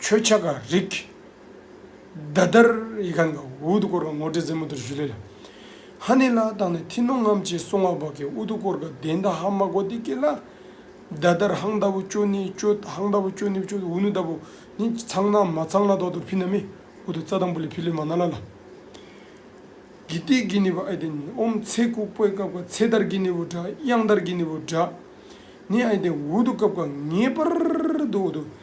ཁྱོད་ཆ་ག་རིགས། ད་ལྟར་ཡི་ག་ནི་འུ་ཐུག་སྐོར་བ་ངོ་སྤྲད་མཛད་མོ་དེར་བཞུད་ལེ་ལ། ཧ་ནི་ལ་དང་ནི་ཐི་ནོ་ངམ་ཅེས་སོང་བ་བ་གའི་འུ་ཐུག་སྐོར་ག་དེ་འདའ་ཧ་མ་གོ་དེ་ཀེ་ལ། ད་ལྟར་ཧང་ད་བུ་ཅོ་ནི་ཅོ་ཧང་ད་བུ་ཅོ་ནི་ཅོ་འུ་ནུ་ད་བུ་ནི་ཚང་ན་མ་ཚང་ན་དོག་ཏུ་ཕི་ན་མི་འུ་ཐུག་ཙ་དང་པུ་ལི་ཕི་ལི་མ་ན་ལ་ལ། གི་ཏི་གི་ནི་བ་ཨེ་དེ་ནི་ཨོམ་ཚེ་ལྐུགས་པོའི་སྐབས་ག་ཚེ་དར་གི་ནི་བུ་དྲ་དབྱངས་དར་གི་ནི་བུ་དྲ་ནི་ཨེ་དེ་འུ་ཐུག་སྐབས་ག་ངེས་པར་དུ་འུ་ཐུག།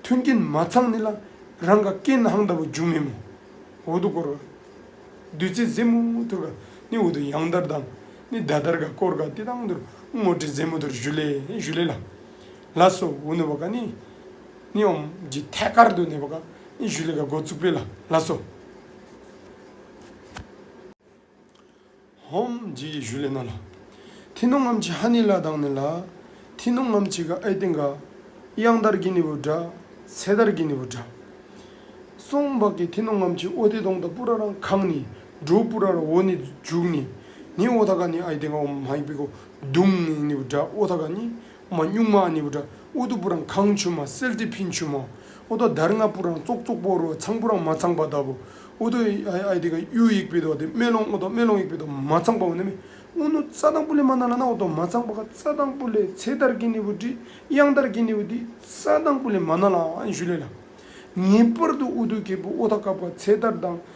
མཐུན་རྐྱེན་མ་ཚང་ནི་ལ་རང་ག་སྐྱེས་ནའང་ལྟ་བུ་འབྱུང་མེད་མོད། འོག་ཏུ་བསྐོར་བ། བདུད་རྩི་རྫས་མུ་ཐུར་ག་ནི་འོག་ཏུ་ཡང་དར་དང་ནི་ཟླ་དར་ག་བསྐོར་ག་ཏི་དང་དུར་སྔོ་དྲི་རྫས་མུ་ཐུར་ཞུ་ལེ་ཞུ་ལེ་ལ་ལ་སོ་འུ་ནུ་བ་ག་ནི་ནི་འོམ་གྱི་ཐད་དཀར་དུ་གནས་པ་ག་ནི་ཞུ་ལེ་ག་སྒོ་བཙུགས་པའི་ལ་ལ་སོ། ཧོམ་རྗེས་ཀྱི་ཞུ་ལེ་ན་ལ། ཐི་ནུ་རྔམ་བྱེད་ཧ་ནི་ལ་དང་ནི་ལ། ཐི་ནུ་རྔམ་བྱེད་ག་ཨེ་ཏི་འག། དབྱངས་དར་གྱི་ནི་བུ་འདྲ། ཚེ་དར་གྱི་ནི་བུ་འདྲ། སོང་འབག་གི་ཐི་ནུ་རྔམ་བྱེད་ཨོ་ཏི་དོང་ད་པུ་ར་ར་ཁང་ནི་འབྲུག་པུ་ར་ར་འོ་ནི་འཇུག་ནི་ནི་ཨོ་ཐ་ག་ནི་ཨ་ཏི་འག་འོ་མ་ཧི་པི་གོ་དུང་ནི་ནི་བུ་འདྲ་འོ་ཐ་ག་ནི་མ་སྨྱུག་མ་ནི་བུ་ཏྲ་ཨུ་ཏུ་པུ་རང་ཁང་ཆུ་མ་སེལ་ཏི་ཕིན་ཆུ་མ་ཨུ་ཏོ་དར་ནག་པུ་རང་ཙོག་ཙོག་པོ་རོ་ཚང་པུ་རང་མ་ཚང་པ་ད་པུ་ཨུ་ཏོ་ཨུ་ཡིག་པི་ཏོ་ཏི་སྨེ་ལོང་ཨུ་ཏོ་སྨེ་ལོང་ཡིག་པི་ཏོ་མ་ཚང་པ་ཨུ་ནུ་རྩ་དང་པུ་ལེ་མ་ན་ལ་ན་ཨུ་ཏོ་མ་ཚང་པ་ཀ་རྩ་དང་པུ་ལེ་ཚེ་དར་གི་ནི་བུ་ཏྲི་དབྱངས་དར་གི་ནི་བུ་ཏི་རྩ་དང་པུ་ལེ་མ་ན་ལ་ཨན་ཞུ་ལེ་ལ་ངེས་པར་དུ་ཨུ་ཏུ་ཀེ་པུ་ཨོ་ཐ་ཀ་པ་ཚེ་དར་དང་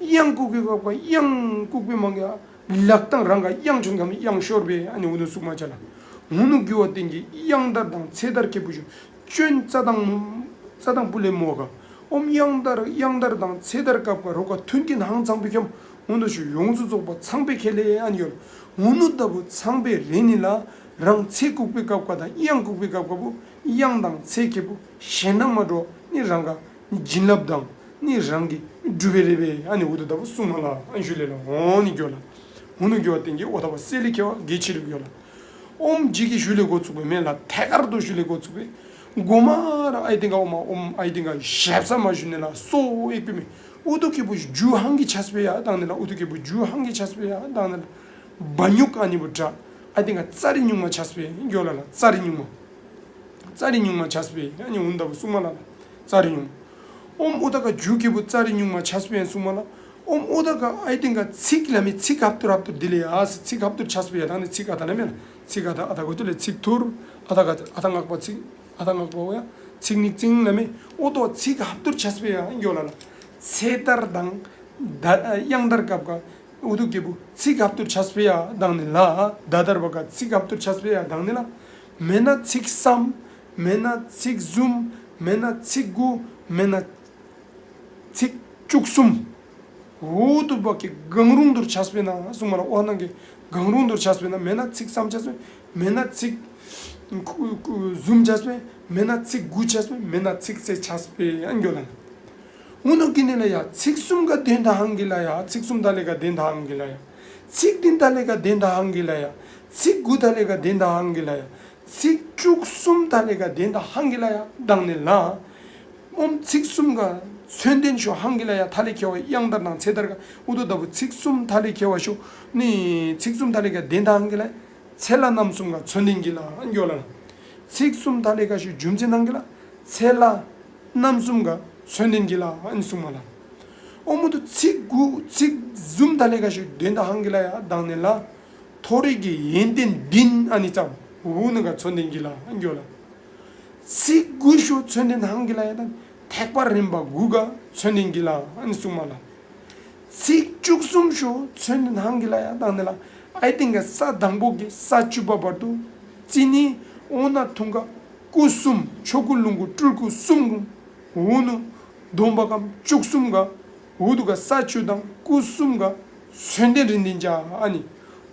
གཡང་ལྐུགས་པའི་བག་པ་གཡང་ལྐུགས་པའི་མང་གི་ལག་དང་རང་ག་གཡང་ཆུང་གམ་གཡང་ཤོར་བས་ཨ་ནི་འུ་ནུ་གཟུགས་མ་བྱ་ལ། འུ་ནུ་རྒྱུ་བ་སྟེང་གི་གཡང་དར་དང་ཚེ་དར་སྐྱེས་བུ་ཞུ། སྤྱོན་རྩ་དང་པུ་ལེབ་མོ་ག་འོམ་གཡང་དར་གཡང་དར་དང་ཚེ་དར་སྐབས་ག་རོ་ག་ཐུན་གྱི་ནང་ཚངས་པའི་ཁྱམས་འུ་ནུ་ཞུ་ཡོངས་སུ་རྫོགས་པ་ཚངས་པའི་ཁལ་ལས་ཨ་ནི་ཡོད། འུ་ནུ་ལྟ་བུ་ཚངས་པའི་རི་ནི་ལ་རང་ཚེ་ལྐུགས་པའི་སྐབས་ག་དང་གཡང་ལྐུགས་པའི་སྐབས་ག་བུ་གཡང་དང་ཚེ་སྐྱེས་བུ་གཞན་དང་མ་འགྲོགས་ནི་རང་ག་བྱིན་རླབས་དང་ནི་རང་གི་སྦྲུལ་པའི་རས་པས་ཨ་ནི་འུ་ཐུག་ལྟ་བུ་སྲུང་མ་ལ་ཨན་ཞུ་ལས་ལ་འོང་ནི་འགྱོ་ལ། འུ་ནུ་འགྱོ་བ་སྟེང་གི་འོ་ཐ་བ་སེ་ལི་ཁེ་བ་གེ་ཆི་རུ་འགྱོ་ལ། ཨོམ་རྗེས་ཀྱི་ཞུ་ལས་འགོ་ཚུགས་པའི་མེ་ལ་ཐད་ཀར་དུ་ཞུ་ལས་འགོ་ཚུགས་པའི་སྒོ་མ་ར་ཨའི་སྟེང་ག་འོ་མ་ཨོམ་ཨའི་སྟེང་ག་ཞབས་ས་མ་ཞུ་ནི་ལ་སོ་ཨེག་པི་མེ་འུ་ཐུག་གི་བུ་རྒྱུ་ཧང་གི་ཆ་སི་པེ་ཡ་དང་ནི་ལ་འུ་ཐུག་གི་བུ་རྒྱུ་ཧང་གི་ཆ་སི་པེ་ཡ་དང་ནི་ལ་བ་སྨྱུག་ཨ་ནི་བུ་བྲ་ཨའི་སྟེང་ག་ཙཱ་རི་སྨྱུག་མ་ཆ་སི་པེ་ཡ་འགྱོ་ལ་ལ་ཙཱ་རི་སྨྱུག་མ། རྩ་རི་སྨྱུག་མ་བྱ་སྤེན་ཨ་ནི་འུ་འདའ་བུ་སྲུང་མ་ལ་ལ་རྩ་རི་སྨྱུག་མ། ཨོམ་ཨུ་ད་ཀ་རྒྱུད་སྐྱེས་བུ་རྩ་རི་སྨྱུག་མ་བྱ་སྤེན་སྲུང་མ་ལ། ཨོམ་ཨུ་ད་ཀ་ཨའི་སྟེང་ཀ་ཚིག་ལ་མི་ཚིག་ཧབ་ཐུར་ཧབ་ཐུར་འདི་ལས་ཨ་སི་ཚིག་ཧབ་ཐུར་བྱ་སྤེ་ཡ་དང་ནི་ཚིག་ཨ་ད་ན་མེ་ལ་ཚིག་ཨ་ད་ཨ་ད་གོ་ཐུར་ལས་ཚིག་ཐུར་ཨ་ད་ཀ་ཨ་ད་སྔགས་པ་ཚིག་ཨ་ད་སྔགས་པ་ཨོ་ཡ་ཚིག་ནི་ཙིང་ལ་མེ་ཨོ་ཏོ་ཚིག་ཧབ་ཐུར་བྱ་སྤེ་ཡ་ཨ་ཡོ་ལ་ལ་ཚེ་དར་དང་དབྱངས་དར་སྐབས་ཀ་ཨུ་དུ་ཀེ་བུ་ཚི་གྷ་བཏུར་ཆ་སྤེ་ཡ་དང་ནི་ལ་དྭ་དར་བ་ག་ཚི་གྷ་བཏུར་ཆ་སྤེ་ཡ་དང་ནི་ལ། མེ་ན་ཚིག་བསམ། མེ་ན་ཚིག་གཟུམ། མེ་ན་ཚིག་དགུ། མེ་ན་ཚིག་བཅུ་གསུམ། ཨུ་དུ་བ་ཀེ་གང་རུང་དུར་ཆ་སྤེ་ན་སྲུང་བ་ལ་ཨོ་ནང་གེ་གང་རུང་དུར་ཆ་སྤེ་ན་མེ་ན་ཚིག་བསམ་ཆ་སྤེ། མེ་ན་ཚིག་གཟུམ་ཆ་སྤེ། མེ་ན་ཚིག་དགུ་ཆ་སྤེ། མེ་ན་ཚིག་བརྩེགས་ཆ་སྤེ་ཡང་འགྱོ་ལ། སྔོན་དུ་ཀི་ནི་ལ་ཡ་ཚིག་གསུམ་ཀ་དན་ད་ཧང་གི་ལ་ཡ་ཚིག་གསུམ་ད་ལེ་ཀ་དན་ད་ཧང་གི་ལ་ཡ་ཚིག་བདུན་ད་ལེ་ཀ་དན་ད་ཧང་གི་ལ་ཡ་ཚིག་དགུ་ད་ལེ་ཀ་དན་ད་ཧང་གི་ལ་ཡ་ཚིག་བཅུ་གསུམ་ད་ལེ་ཀ་དན་ད་ཧང་གི་ལ་ཡ་དང་ནི་ལ་འོམ་ཚིག་གསུམ་ཀ་མཚོན་བསྟན་ཤོ་ཧང་གི་ལ་ཡ་ད་ལེ་ཁེ་བ་དབྱངས་དར་དང་ཚེ་དར་ཀ་ཨུ་དོ་ད་བུ་ཚིག་གསུམ་ད་ལེ་ཁེ་བ་ཤོ་ནི་ཚིག་གསུམ་ད་ལེ་ཀ་དན་ད་ཧང་གི་ལ་ཡ་ཚེ་ལ་རྣམ་གསུམ་ཀ་མཚོན་བསྟན་གྱི་ལ་འགྱོ་ལ་ལ་ཚིག་གསུམ་ད་ལེ་ཀ་ཤོ་རྒྱུ་མཚན་ནང་གི་ལ་ཚེ་ལ་རྣམ་གསུམ་ག་མཚོན་ལྡན་གྱི་ལའང་གསུངས་མ་ལགས། དབང་པོ་དང་ཚིག་དགུ་ཚིག་གསུམ་དག་ལས་ག་ཞིག་བདེན་དང་ཧང་གི་ལ་ཡང་གདངས་ནས་ལ། མཐོ་རིས་ཀྱི་ཡོན་ཏན་བདུན་ཨ་ནི་ཙམ་བུ་ནི་ག་མཚོན་ལྡན་གྱི་ལའང་འགྱུར་ལ། ཚིག་དགུ་ཤོ་མཚོན་ལྡན་དང་ཧང་གི་ལ་ཡང་དང་ཐེག་པ་རིམ་པ་དགུ་ག་མཚོན་ལྡན་གྱི་ལའང་གསུངས་མ་ལགས། ཚིག་བཅུ་གསུམ་ཞུ་ཚུལ་ནི་ནང་གི་ལ་ཡ་བཏང་ནས་ལ་ཨའི་སྟེང་གི་ས་དང་པོ་གི་ས་བཅུ་པ་བར་དུ་ཙི་ནི་ཨོ་ན་ཐུང་ཀ་སྐུ་གསུམ་ཆོས་སྐུ་རླུང་སྐུ་སྤྲུལ་སྐུ་གསུམ་གུ་ཧུ་ནུ་སྡོམ་པ་ཁམས་བཅུ་གསུམ་ག་འུ་ཐུག་ག་ས་བཅུ་དང་སྐུ་གསུམ་ག་མཚོན་ལྡན་རིན་ལྡན་འཇའ་ཨ་ནི་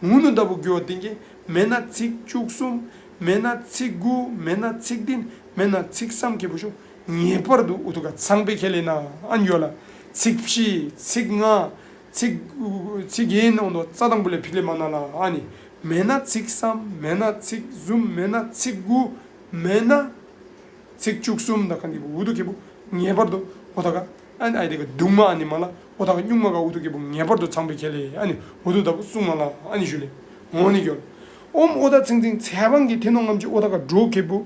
ཧུ་ནུ་ལྟ་བུ་དགེ་བ་བདེན་བརྒྱད་མེད་ན་ཚིག་བཅུ་གསུམ་མེད་ན་ཚིག་དགུ་མེད་ན་ཚིག་བདུན་མེད་ན་ཚིག་བསམ་གྱི་བུ་ཆུང་ངེས་པར་དུ་འུ་ཐུག་ག་ཚང་པས་ཁས་ལེན་ནའང་ཡོད་ལ། ཚིག་བཞི། ཚིག་ལྔ། ཚིག། ཚིག་བརྒྱའི་ནང་དུ་རྩ་དང་པོ་ལས་ཕིག་ལེ་མ་ནང་ལའང་ནི། མེད་ན་ཚིག་གསུམ། མེད་ན་ཚིག་གསུམ། མེད་ན་ཚིག་དགུ། མེད་ན། ཚིག་བཅུ་གསུམ་དང་གང་གི་བུ་འུ་ཐུག་གི་བུ་ངེས་པར་དུ་འུ་ཐག་ག་ཨ་ནི་ཨ་ནི་གདུང་མ་ཨ་ནི་མ་ལ་འུ་ཐག་ག་སྨྱུག་མ་ག་འུ་ཐུག་གི་བུ་ངེས་པར་དུ་ཚང་པས་ཁས་ལེན་ཨ་ནི་འུ་ཐུག་ད་བུ་གསུངས་མ་ལ་ཨ་ནི་ཞུ་ལེ་འོང་ནི་ཀྱོ། འོམ་འུ་ཐག་ཚིང་ཚིང་ཚལ་འཕང་གི་མཐིལ་ནོ་རྔམས་ཀྱི་འུ་ཐག་ག་འགྲོ་གི་བུ།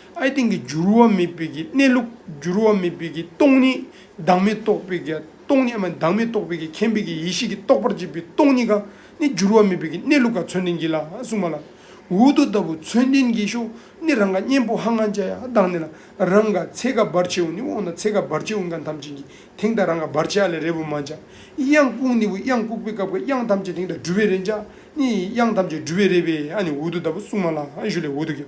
ཨའི་སྟེང་གི་འགྱུར་བ་མེད་པའི་ཀྱི་གནས་ལུགས་འགྱུར་བ་མེད་པའི་ཀྱི་སྟོང་ཉིད་བདག་མེད་རྟོགས་པའི་ཀྱི་སྟོང་ཉིད་མ་བདག་མེད་རྟོགས་པའི་ཀྱི་མཁྱེན་པའི་ཀྱི་ཡེ་ཤེས་ཀྱི་རྟོགས་པར་བྱེད་པའི་སྟོང་ཉིད་ཀ་ནི་འགྱུར་བ་མེད་པའི་ཀྱི་གནས་ལུགས་ཀ་མཚོན་ལྡན་གྱི་ལ་གསུངས་པ་ལ། འུ་དུ་ལྟ་བུ་མཚོན་ལྡན་གྱི་ཤོ་ནི་རང་ག་གཉེན་པོ་ཧ་ང་ཅ་ཡ་བདག་ནི་ལ་རང་ག་ཚེ་ག་བར་ཆེའུ་ནི་འོང་ན་ཚེ་ག་བར་ཆེའུ་འགའ་ཐམས་ཅད་ཀྱི་དེང་དང་རང་ག་བར་ཆེ་ཨ་ལས་རེ་བུ་མ་ཅ་དབྱངས་བཀུག་ནི་བུ་དབྱངས་བཀུག་པའི་སྐབས་ཀ་དབྱངས་ཐམས་ཅད་དེང་དང་སྦྲུལ་བའི་རེ་འཇགས་ནི་དབྱངས་ཐམས་ཅད་སྦྲུལ་བའི་རེ་བས་ཨ་ནི་འུ་དུ་ལྟ་བུ་གསུངས་མ་ལ་ཨ་ཞུ་ལས་འུ་དུ་ཀྱི།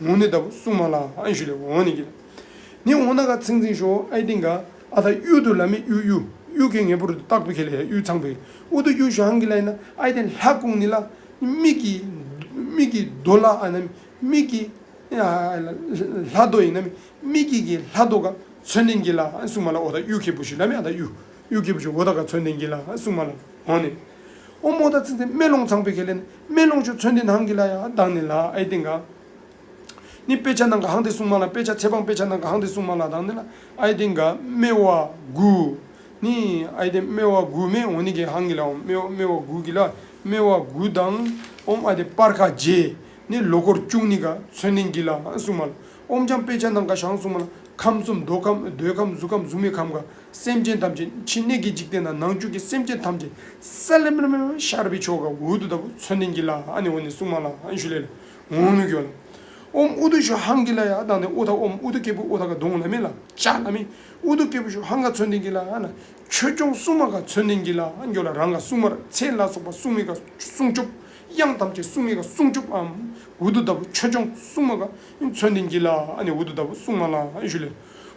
ངོ་ནི་ལྟ་བུ་སྲུང་མ་ལ་ཨན་ཞུ་ལེ་འོང་ནི་གི། ནི་འོང་ན་ག་ཚིང་ཚིང་ཞོ་ཨའི་ཏིང་ག་ཨ་ཐ་གཡུ་དུ་ལ་མི་གཡུ་གཡུ་གཡུ་གི་ངེ་པོ་རུ་དུ་ཏག་པི་གི་ལ་ཡ་གཡུ་ཚང་པི་ཨུ་དུ་གཡུ་ཞང་གི་ལ་ཡིན་ན་ཨའི་ཏིང་ལྷ་ཀུང་ནི་ལ་ནི་མིག་གི་མིག་གི་རྡོ་ལ་ཨ་ན་མིག་གི་ལྷ་རྡོ་ཡིན་ན་མིག་གི་གི་ལྷ་རྡོ་ག་ཚོན་ཏིང་གི་ལ་ཨན་སྲུང་མ་ལ་ཨོ་ཐ་གཡུ་གི་པུ་ཞུ་ལ་མི་ཨ་ཐ་གཡུ། གཡུལ་སྐྱེས་བུ་ཆུ་བོ་དག་ག་ཚོད་འདི་འགྱིད་ལ་ཡང་སྲུང་མ་ལ་འོང་ནས། ཨོ་མོ་ད་ཚེ་འདི་སྨན་ལོང་ཚངས་པའི་གེ་ལས་ནི་སྨན་ལོང་ཆུ་ཚོད་འདི་ནང་འགྱིད་ལ་ཡང་བདག་ནི་ལ་ཨའི་ཏིང་ཀ་ནི་དཔེ་ཆ་ནང་ག་ཧང་འདི་སྲུང་མ་ལ་དཔེ་ཆ་ཚེ་འབངས་དཔེ་ཆ་ནང་ག་ཧང་འདི་སྲུང་མ་ལ་བདག་ནི་ལ་ཨའི་ཏིང་ཀ་སྨེ་བ་དགུ་ནི་ཨའི་ཏིང་སྨེ་བ་དགུ་སྨེ་འོ་ནི་གེ་ཧང་འགྱིད་ལ་འོང་སྨེ་བ་དགུ་འགྱིད་ལ་སྨེ་བ་དགུ་དང་འོང་ཨ་ཏི་སྤར་ཁ་རྗེས་ནི་ལོ་འཁོར་བཅུ་ནི་ག་ཚོད་འདི་འགྱིད་ལ་ཡང་སྲུང་མ་ལ་ཨོམ་བྱང་དཔེ་ཆ་ནམ་མཁའ་གཞང་བཟུང་མ། ཁམས་གསུམ་འདོད་ཁམས་འདོད་ཁམས་གཟུགས་ཁམས་གཟུགས་མེད་ཁམས་གང། སེམས་ཅན་ཐམས་ཅད་ཕྱི་གནས་ཀྱི་འཇིག་རྟེན་ན་ནང་བཅུད་ཀྱི་སེམས་ཅན་ཐམས་ཅད་སཱ་ལཱ་མཱ་མཱ་ཤར་བའི་ཆོ་ག་འོད་དུ་དབབ་བོ་མཚོན་ནས་འགྱིང་ལ་ཨ་ནི་འོ་ནི་སྲུང་མ་ལ་ཨ་ཤུ་ལེ་ལ་འོང་ནུ་གྱོ་ལ། ཨོམ་ཨུ་དུ་ཤུ་ཧཱང་གི་ལ་ཡ་ཨ་བཏང་སྟེ་ཨུ་ཐ་ཨོམ་ཨུ་དུ་ཀེ་པུ་ཨུ་ཐ་ཀ་གདོང་ལ་མེ་ལ་ལྕགས་ལ་མེ། ཨུ་དུ་ཀེ་པུ་ཤུ་ཧཱང་ག་མཚོན་ནས་འགྱིང་ལ་ཨ་ལ། ཆོས་སྐྱོང་སྲུང་མ་ག་མཚོན་ནས་འགྱིང་ལ་ཨ་འགྱོ་ལ་རང་ག་སྲུང་མར་ཚེ་ལ་སོགས་པ་སྲུང་མི་ག་སྲུང་སྐྱོབ་དབྱངས་ཐམས་ཅད་སྲུང་མའི་ག་སྲུང་བཅུ་པའམ། འུ་དུ་ལྟ་བུ་ཆོས་སྐྱོང་སྲུང་མ་ག། མཚོན་ཏིང་འགྱིད་ལ་ནི་འུ་དུ་ལྟ་བུ་སྲུང་མ་ལ་ཞུ་ལས།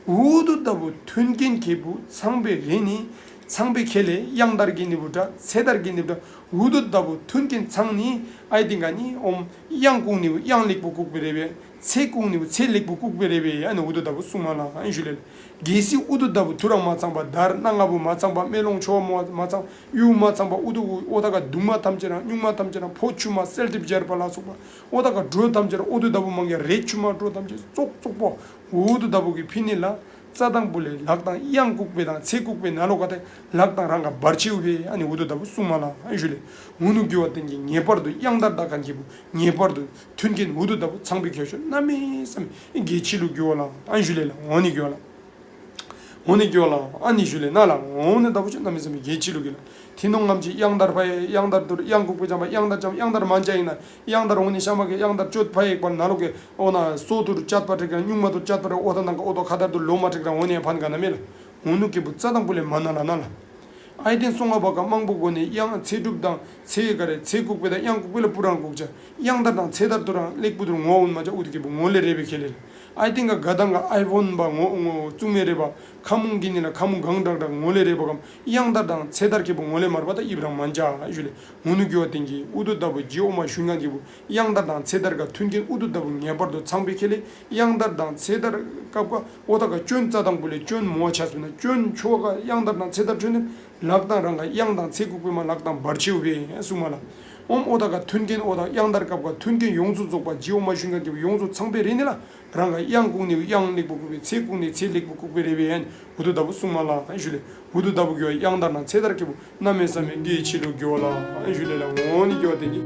འུ་དུ་ལྟ་བུ་མཐུན་རྐྱེན་གྱི་བུ་ཚངས་པའི་རིགས་ནི། ཚངས་པའི་ཁྱད་ལས་དབྱངས་དར་གྱི་ནི་བུ་དགྲ་ཚེ་དར་གྱི་ནི་དགྲ། འུ་དུ་ལྟ་བུ་མཐུན་རྐྱེན་ཚངས་ནི་ཨའི་ཏིང་ཀ་ནི་ཨོམ། དབྱངས་བཀུག་ནི་བུ་དབྱངས་ལེགས་པོ་བཀུག་པའི་རེ་བས། ཚེ་བཀུག་ནི་བུ་ཚེ་ལེགས་པོ་བཀུག་པའི་རེ་བས་ནི་འུ་དུ་ལྟ་བུ་སྲུང་མ་ལ་ཞུ་ལས། རྒྱལ་སྲིད་འུ་དུ་ལྟ་བུ་དུར་ར་མ་ཚངས་པ་དར་སྣ་ལྔ་པོ་མ་ཚངས་པ་དམེ་ལོང་འཕྱོ་བ་མ་ཚངས། དབྱུག་མ་ཚངས་པ་ཨུ་དུ་ཨུའི་ཨོ་ད་ག་གདུང་མ་ཐམས་ཅད་རང་སྨྱུག་མ་ཐམས་ཅད་རང་ཕོ་ཆུ་མ་སེལ་གྲིབ་སྦྱར་བ་ལ་སོགས་པ་ཨོ་ད་ག་སྒྲོས་ཐམས་ཅད་རང་ཨོ་དུ་ད་བུ་མང་གི་རས་ཆུ་མ་སྒྲོ་ཐམས་ཅད་ཙོག་ཙོག་པོ་འོ་དུ་ད་བུ་གི་ཕི་ནི་ལ་རྩ་དང་པོ་ལས་ལག་དང་གཡང་བཀུག་པའི་དང་ཚེ་བཀུག་པའི་ན་ལོ་ག་སྟེ་ལག་དང་རང་ག་འབར་བྱེའུ་བྷེ་ཨ་ནི་འོ་དུ་ད་བུ་སྲུང་མ་ལ་ཨན་ཞུ་ལེ་ངུ་ནུ་རྒྱུ་བ་སྟེན་གྱི་ངེས་པར་དུ་གཡང་དར་དག་ག་འགྱེད་པོ་ངེས་པར་དུ་ཐུན་མཁན་འོ་དུ་ད་བུ་ཚངས་པའི་གས་ཞོ་སྣ་མེད་སམ་ཨི་གས་ཕྱི་ལུགས་རྒྱུ་བ་ལ་ཨན་ཞུ་ལེ་ལ་འོ་ནི་རྒྱུ་བ་ལ། ངོ་ནི་སྐྱོ་ལ་ཨ་ནི་ཞུ་ལས་ན་ལ་ངོ་ནི་ཟླ་བོ་ཆུ་ཟླ་མི་ཟ་མི་དགེའི་ཕྱི་ལུགས་ཀྱི་ལ་ཐི་ནོང་ངམ་ཅི་དབྱངས་དར་ཕ་ཡས་དབྱངས་དར་དུར་དབྱངས་ཁུག་པའི་བྱམས་པ་དབྱངས་དར་བྱམས་དབྱངས་དར་མང་ཅག་ཡིན་ན་དབྱངས་དར་འོག་ནི་ཤ་མ་གའི་དབྱངས་དར་ཅོད་ཕ་ཡས་པར་ན་ལོག་གི་འོག་ན་སོ་དུར་ལྕགས་པར་བྲེགས་ཀྱང་སྨྱུག་མ་དུར་ལྕགས་པར་འོག་ད་ནང་གི་ཨོ་ཏོ་ཁ་དར་དུར་ལོ་མ་བྲེགས་དང་འོག་ནས་ཕ་ནི་ག་ན་མེད་ལ་ངོ་ནུ་སྐྱེས་བུ་རྩ་དང་པོ་ལས་མ་ན་ལ་ན་ལ། ཨའི་སྟེང་སོ་ལྔ་བ་ཀ་དམངས་པོ་སྒོ་ནས་དབྱངས་ཨ་ཚེ་སྒྲུབ་དང་ཚེ་ཡི་ཀ་རེ་ཚེ་ལྐུགས་པའི་དང་དབྱངས་ལྐུགས་པའི་ལ་པུ་རང་ལྐུགས་བྱ། དབྱངས་དར་དང་ཚེ་དར་དུ་རང་གླེགས་བུ་དུར་ངོ་ཨུན་མ་བྱ་ཨུ་དུ་ཀེ་བུ་ངོ་ལེ་རེ་བའི་ཁེ་ལེ་ལ། ཨའི་སྟེང་ཀ་ག་དང་ཀ་ཨའི་བོན་པ་ངོ་ཨུ་ངོ་བཙུགས་མའི་རེ་བ། ཁ་མུང་གི་ནི་ལ་ཁ་མུ་གང་དྲག་དྲག་ངོ་ལེ་རེ་བ་གམ་དབྱངས་དར་དང་ཚེ་དར་ཀེ་བུ་ངོ་ལེ་མར་བ་ད་དབྱིབས་རང་མ་འཇའ་ཞུ་ལེ་ངོ་ནུ་གུ་བ་སྟེང་གི་ཨུ་དུ་ད་བུ་རྗེ་ཨོ་མ་ཞུན་གང་ཀེ་བུ་དབྱངས་དར་དང་ཚེ་དར་ཀ་མཐུན་རྐྱེན་ཨུ་དུ་ད་བུ་ངེས་པར་དུ་ཚང་པའི་ཁེ་ལེ་དབྱངས་དར་དང་ཚེ་དར་སྐབས་ཀ། ཨོ་ད་ག་སྐྱོན་རྩ་དང་པོ་ལས་སྐྱོན་མོ་བ་ཆ་ཟོས་ན་སྐྱོན་ཆོ་ག་དབྱངས་རྟ་དང་ཚེ་རྟ་འཕྲོད་འདེབས་ལག་དང་རང་ག་དབྱངས་དང་ཚེ་གུག་པོད་མ་ལག་དང་འབར་ཆེའུ་བས་སྲུང་མ་ལ། ཨོམ་ཨོ་ད་ག་མཐུན་རྐྱེན་ཨོ་དང་དབྱངས་རྟར་བཀབ་ཀ་མཐུན་རྐྱེན་ཡོངས་སུ་རྫོགས་པ་རྗེའུ་མ་ཤུན་གང་གི་བས་ཡོངས་སུ་ཚང་པའི་རེ་ནི་ལ། རང་ག་དབྱངས་གུག་ནི་དབྱངས་ལེགས་པོ་གུག་པའི་ཚེ་གུག་ནི་ཚེ་ལེགས་པོ་གུག་པའི་རེ་བས་འུ་དུ་ད་བུ་སྲུང་མ་ལ་ཞུ་ལས་འུ་དུ་ད་བུ་དགེ་བ་དབྱངས་རྟ་དང་ཚེ་རྟར་སྐྱེ་བོ་རྣམས་མེད་བསམ་པའི་བཀའི་ཕྱིར་རོ་དགེ་བ་ལ་ཞུ་ལས་ལ་ངོ་བོ་ནི་དགེ་བ་དེ་ཉིད།